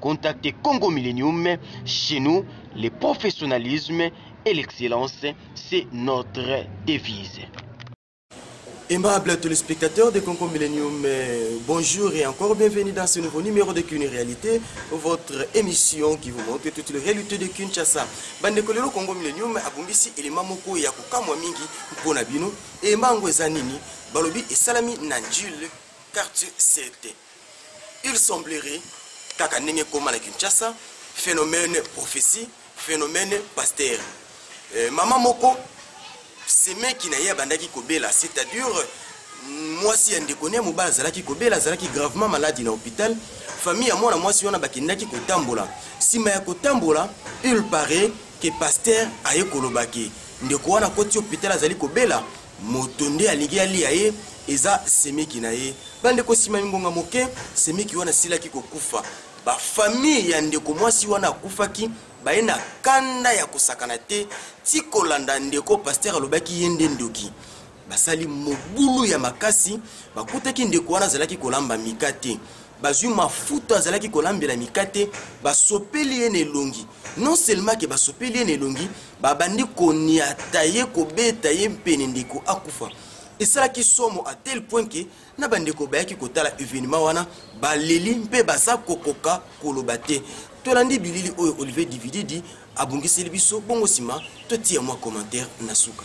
Contactez Congo Millennium chez nous, le professionnalisme et l'excellence, c'est notre devise. Aimable téléspectateurs de Congo Millennium, euh, bonjour et encore bienvenue dans ce nouveau numéro de Kuni Réalité, votre émission qui vous montre toutes les réalités de Kinshasa. Bande Kolero Congo Millennium, abongisi élément moko ya kokamwa mingi mpona bino, élément yango eza nini? Balobi esalami na Njule quartier 7. il semblerait kaka ndenge ekoma na kinshasa phénomène prophétie phénomène pasteur euh, mama moko semeki na ye abandaki kobela c'est-à-dire mwasi ya ndeko ne mobali azalaki kobela azalaki gravement maladi na hôpital famille ya mwana mwasi wana bakendaki kotambola nsima ya kotambola il paraît ke pasteur aye kolobaki ndeko wana akoti hôpital azali kobela moto nde alingi alia ye eza semeki na ye bandeko nsima ya mingonga moke semeki wana asilaki kokufa bafamille ya ndeko mwasi wana akufaki baye na kanda ya kosakana te ti kolanda ndeko paster alobaki ye nde ndoki basali mobulu ya makasi bakutaki ndeko wana azalaki kolamba mika te bazwi mafuta azalaki kolambela mikate basopeli ye na elongi non seulement ke basopeli ye na elongi babandi koniata ye kobeta ye mpene ndeko akufa esalaki somo a tel point ke na bandeko bayaki kotala evenema wana baleli mpe baza kokoka koloba te tolandi bilili oyo olivier divididi abongiseli biso bongo nsima totiya mwa commentaire na suka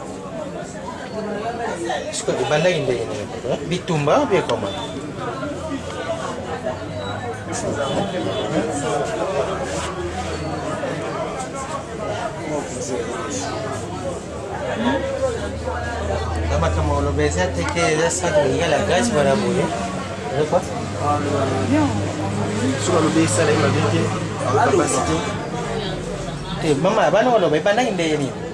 sikoyo ebandaki ndenge nini bitumba mpe ekoma na makambo oloba eza te ke eza saki bolinga la grâce mpona boye soki alobi esalaki mabe te te mama bana oloba ebandaki ndenge nini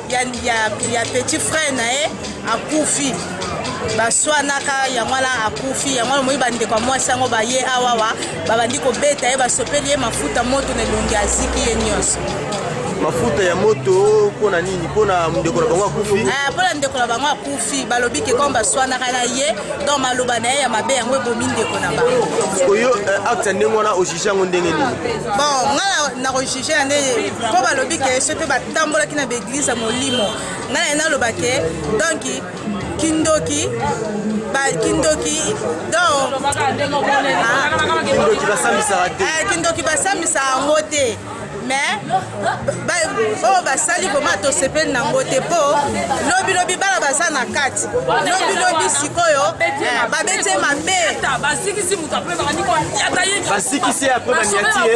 ya, ya, ya petit frère na ye akufi baswanaka yango wana akufi yango wana omoni bandeko ya mwasi yango baye awawa babandi kobeta ye basopeli ye mafuta moto na elongi aziki ye nyonso mafuta ya moto mpo na nini mpo na ndeko na bango akufi eh, mpo na ndeko na bango akufi balobi ke kome baswanaka na ye donc maloba na ye ya mabe yango ebomi ndeko na bango oyo eh, acte ya ndenge wana ojige yango ndenge nini bon ngai na je ya ndenge mpo balobi ke soki batambolaki na baeglize ya molimo ngai naye naloba ke donk kindoki kindoki donkindoki basambisaka te eh, kindoki basambisaka yango te mais oyo oh, basali vraimen tosepeli nango te mpo lobilobi bana baza na kati lobilobi sikoyo eh, babeti mabe basikisi ye apres baniati ye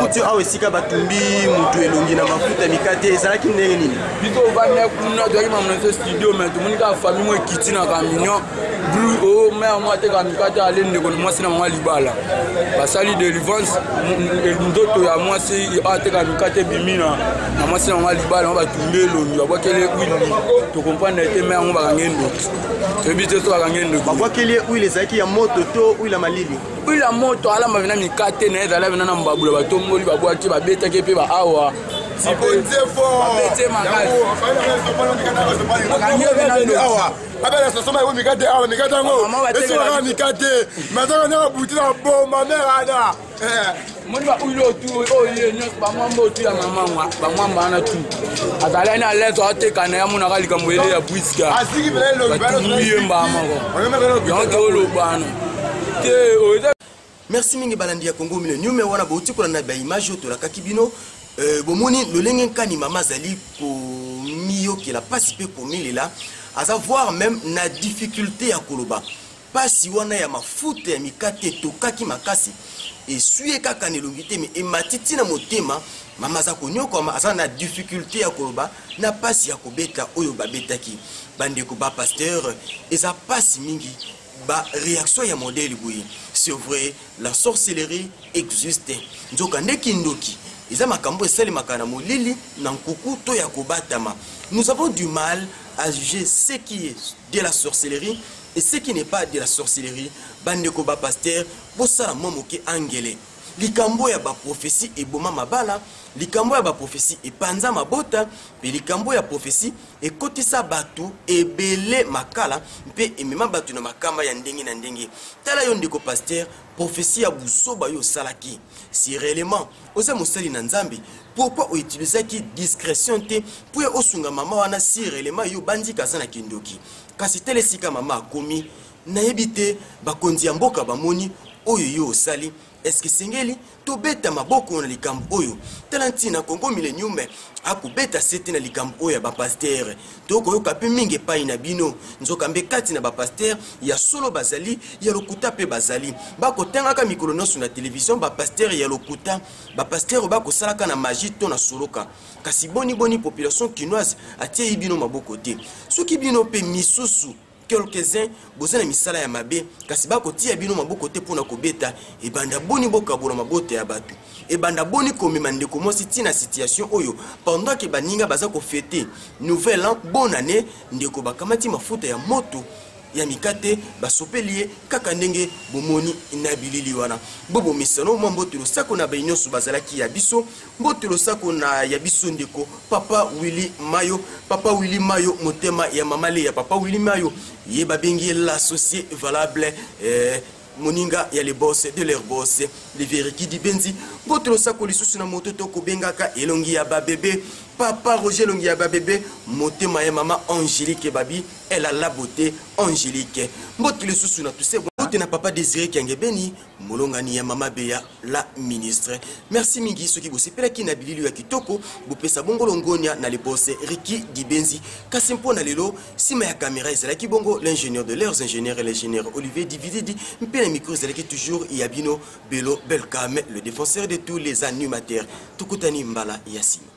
kutu awa esika batumbi motu elongi na mafuta mikate ezalaki ndenge nini bito ovanda kuna toyaki mamonese studio me tomoni kaka famille mo ekiti na camion bru o mare mo ateka mikate ale ndeko na mwasi na mama libala basali delivrance nzoto ya mwasi ateka mikate ebimi na mwasi na mama libala ma batumbi elongi babwakeli wili tokomprendre te mare yango bakangi endoki toyebi te so bakangi endoki babwakeli ye wili ezalaki ya moto to wili ya malili huile ya moto alamba vena mikate na ye ezala vena na mbabula batomboli babwaki babetaki mpe baawa babelesasoma yango mikate awa mikate yango esilaka mikate mazaka nde babuti na boma mera ana omoni baoyo otu oyo ye nyonso bamwamba otu ya mamangwa bamwamba wana tu azali ani alento ateka na ye amonaka likambo ele ya bwiska batuli ye mbaa moko yango toolobana te oyo merci mingi balandi ya congo mino nume wana bouti kolanda baimage oyo tolakaki bino euh, bomoni lolenge nkani mama azali komiyokela mpasi mpe komilela aza voir même na difficulté ya koloba Pasi wana ya mafuta ya mikate etokaki makasi eswi ye kaka na elongi te me emati ntina motema mama aza konyokwama aza na difficulte ya koloba na mpasi ya kobeta oyo babetaki bandeko ba pasteur eza mpasi mingi ba réaction ya modèle boye c'est vrai la sorcellerie existe nzoka nde kindoki eza makambo esalemaka na molili na nkuku to ya kobatama nous avons du mal à juger ce qui est de la sorcellerie Et ce qui n'est pas de la sorcellerie, bandeko ba pasteur, bosala mwa moke angele. Likambo ya ba prophetie eboma mabala, likambo ya ba prophetie epanza mabota, mpe likambo ya prophetie ekotisa bato ebele makala mpe emema bato na makama ya ndenge na ndenge. Tala yo ndeko pasteur, prophetie ya buzoba yo osalaki. Si réellement oza mosali na Nzambe, pourquoi outilisaki discrétion te mpo ya osunga mama wana si réellement yo bandika aza na kindoki? kasi tala esika mama akomi nayebi te bakonzi ya mboka bamoni oyo yo osali eske esengeli tobeta maboko na likambo oyo tala ntina congo milenium akobeta sete na likambo oyo ya bapastere tokoyoka mpe mingi epai na bino nzokande kati na bapastere ya solo bazali ya lokuta mpe bazali bakotangaka mikolo nyonso na televizio bapastere ya lokuta bapastere oyo bakosalaka na magi to na soloka kasi boni boni population kinoise atieyi bino maboko te soki bino mpe misusu quelques-uns boza na misala ya mabe kasi bakotia bino maboko te mpo na kobeta ebanda boni bokabola mabota ya bato ebanda boni komema ndeko mwasi ti na situation oyo pendant ke baninga baza kofete nouvel an bonne année ndeko bakamati mafuta ya moto ya mikate basopeli ye kaka ndenge bomoni na bilili wana bobomesano mwa mbote losako na baye nyonso bazalaki ya biso mbote losako na ya biso ndeko papa willi mayo papa willi mayo motema ya mama leya papa willi mayo ye babengi ye l'associe valable eh, moninga ya le boss de leur boss le veriki dibenzi mbote losako lisusu na moto to kobengaka elongi ya babebe papa roger elongi ya babebe motema ya mama angélique babi elle a la beauté angélique mbote lisusu na tuse mbote na papa désiré kiangebeni molongani ya mama beya la ministre merci mingi soki bosepelaki na bilili ya kitoko bopesa bongo longonia na lebose riki dibenzi kasi mpo na lelo nsima ya kamera ezalaki bongo l'ingénieur de leurs ingénieur et l'ingénieur olivier divididi mpe na micro ezalaki toujours ya bino belo belcame le défenseur de tous les animateurs tokutani mbala ya nsima